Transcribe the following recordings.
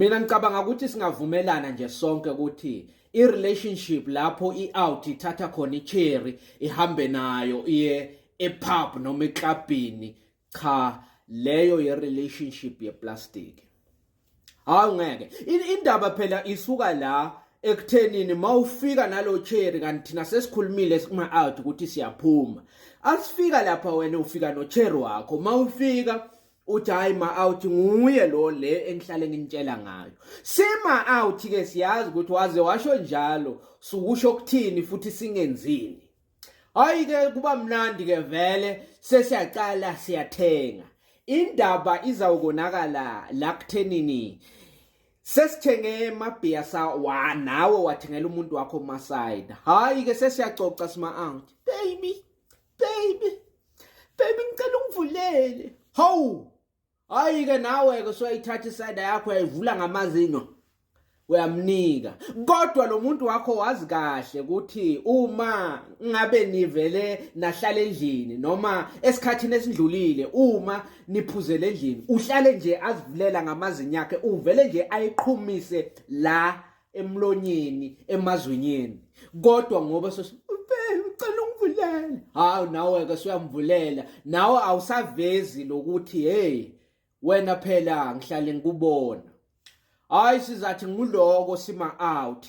Mina ngicabanga ukuthi singavumelana nje sonke ukuthi i-relationship lapho i-out ithatha khona i-cherry ihambe nayo iye e-pub noma eklabhini cha leyo ye-relationship ye-plastic hawu ngeke indaba phela isuka la ekuthenini mawufika nalo cherry kanti thina sesikhulumile kuma out ukuthi siyaphuma asifika lapha wena ufika no cherry wakho mawufika uthi hayi ma out nguye lo le engihlale nginitshela ngayo sima out ke siyazi ukuthi waze washo njalo sukusho ukuthini futhi singenzini hayi ke kuba mnandi ke vele sesiyaqala siyathenga indaba izawukonakala la kuthenini sesithenge mabhiya sa wa nawe wathengela umuntu wakho masayida hayi ke sesiyacoca sima out baby baby baby ngicela ungivulele hawu hayi ke nawe ke soyithatha isayida yakho yayivula ngamazinyo uyamnika kodwa lo muntu wakho wazi kahle ukuthi uma ngabe nivele nahlala endlini noma esikhathini esindlulile uma niphuzele endlini uhlale nje azivulela ngamazinyo akhe uvele nje ayiqhumise la emlonyeni emazwinyeni kodwa ngoba ucela ungivulele hawu nawe ke suyamvulela nawe awusavezi lokuthi hey wena phela ngihlale ngikubona hayi sizathi nguloko sima out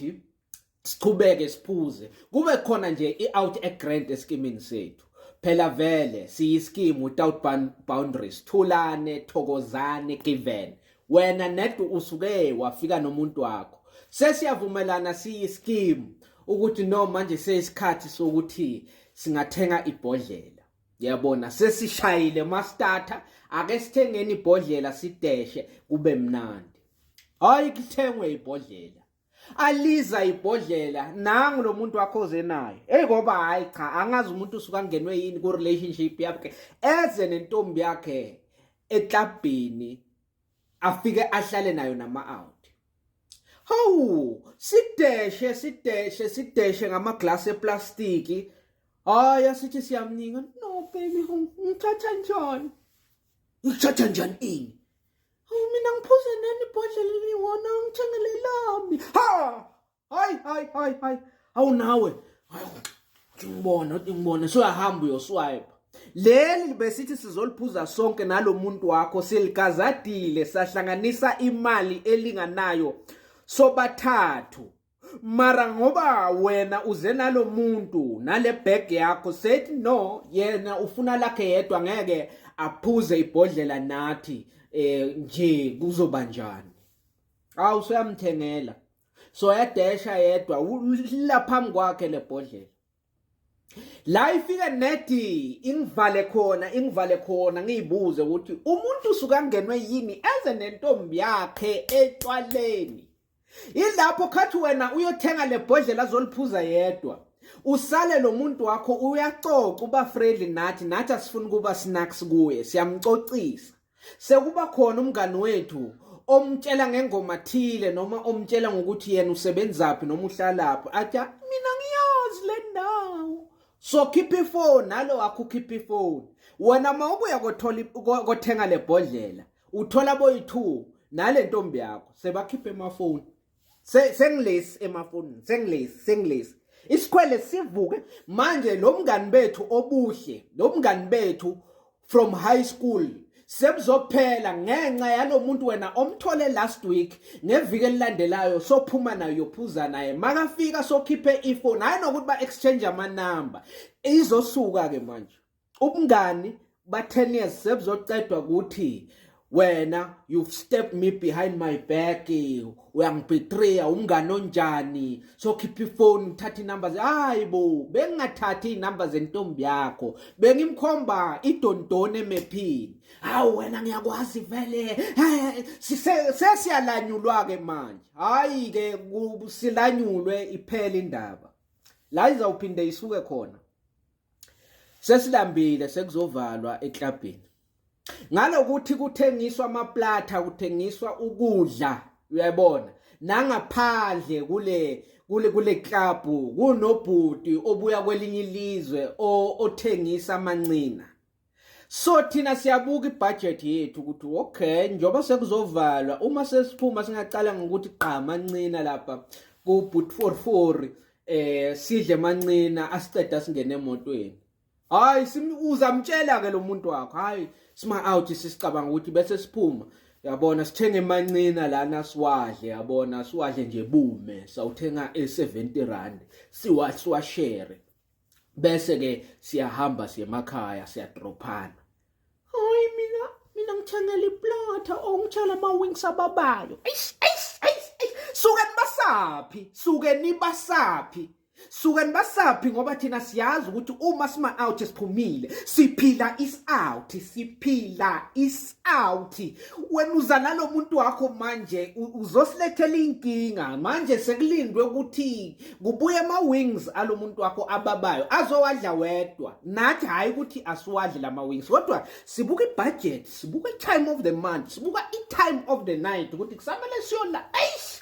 siqhubeke siphuze kube khona nje i-out egrant esikimini sethu phela vele siyiskimu without boundaries thulane thokozane given wena ned usuke wafika nomuntu wakho sesiyavumelana siyiskimu ukuthi no manje seyisikhathi sokuthi singathenga ibhodlela yabona sesishayile mastata ake sithengeni ibhodlela sideshe kube mnandi hayi kuthengwe ibhodlela aliza ibhodlela nangu lo muntu wakho oze naye eyi ngoba hhayi cha angazi umuntu usuke angenwe yini ku-relationship yakhe eze nentombi yakhe eklabhini afike ahlale nayo nama-out hawu sideshe sideshe sideshe ngamaglasi eplastiki hhayi asithi siyamninga no baby ngithatha njani ngithatha njani ini Hawu mina ngiphuze nani ibhodlela eliwona ngithengele lami. Ha! Hayi hayi hayi hayi. Awu nawe. Hawu. Ngibona, ngibona. Suyahamba uyoswipe. Leli besithi sizoliphuza sonke nalomuntu wakho siligazadile sahlanganisa imali elinganayo sobathathu. mara ngoba wena uze nalo muntu nale bag yakho said no yena ufuna lakhe yedwa ngeke aphuze ibhodlela nathi eh nje kuzoba njani awu soyamthengela soyadesha yedwa la phambi kwakhe lebhodlela la ifike nedi ingivale khona ingivale khona ngiyibuze ukuthi umuntu usukangenwe yini eze nentombi yakhe etshwaleni ilapho khathi wena uyothenga lebhodlela azoliphuza yedwa usale lo muntu wakho uyacoca uba friendly nathi nathi asifuni kuba snacks kuye siyamcocisa Sekuba khona umngani wethu omtshela ngengoma thile noma omtshela ngokuthi yena usebenzaphi noma uhlalaphi atya mina ngiyazi le ndawo so khipha ifoni nalo wakho ukhipha ifoni wena uma ubuya kothenga le bhodlela uthola boyi-two nale ntombi yakho sebakhiphe emafoni sengilesi emafonini sengilesi sengilesi isikhwele sivuke manje lo mngani bethu obuhle lo mngani bethu from high school sebuzophela ngenxa yalomuntu wena omthole last week ngeviki elilandelayo sophuma nayo yophuza naye makafika sokhiphe ifone hayi nokuthi ba exchange ama number izosuka ke manje ubungani ba 10 years sebuzocedwa ukuthi wena you've stepped me behind my back uyangibetreya umngane onjani so khipha ifoni uthatha inumber hayi bo bengingathathi inumber zentombi yakho bengimkhomba idondone emephini hawu wena ngiyakwazi vele sesiyalanyulwa ke manje hayi ke silanyulwe iphela indaba la izawuphinde isuke khona Sesilambile sekuzovalwa eklabhini. Ngalokuthi kuthengiswa amaplatha, kuthengiswa ukudla, uyayibona. Nangaphandle kule kule kule club kunobhuti obuya kwelinye ilizwe othengisa amancina. So thina siyabuka ibudget yethu ukuthi okay njoba sekuzovalwa uma sesiphuma singaqala ngokuthi qhama ncina lapha ku boot 44 eh sidle mancina asiqeda singene emotweni hayi uzamtshela ke lo muntu wakho hayi sima out sisicabanga ukuthi bese siphuma yabona sithenge mancina lana siwadle yabona siwadle nje bume sawuthenga e70 rand siwashare bese ke siyahamba siye emakhaya siyadrophana hayi mina mina ngithengele iplot ongitshela ama wings ababayo eish eish eish suke nibasaphi suke nibasaphi suke nibasaphi ngoba thina siyazi ukuthi uma sima out siphumile siphila is out siphila is out wena uza nalomuntu wakho manje uzosilethela inkinga manje sekulindwe ukuthi kubuye ama-wings alo muntu wakho ababayo azowadla wedwa nathi hhayi ukuthi asiwadle la ma-wings kodwa sibuka ibhajethi sibuka i-time of the month sibuka i-time of the night ukuthi kusamele siyona eish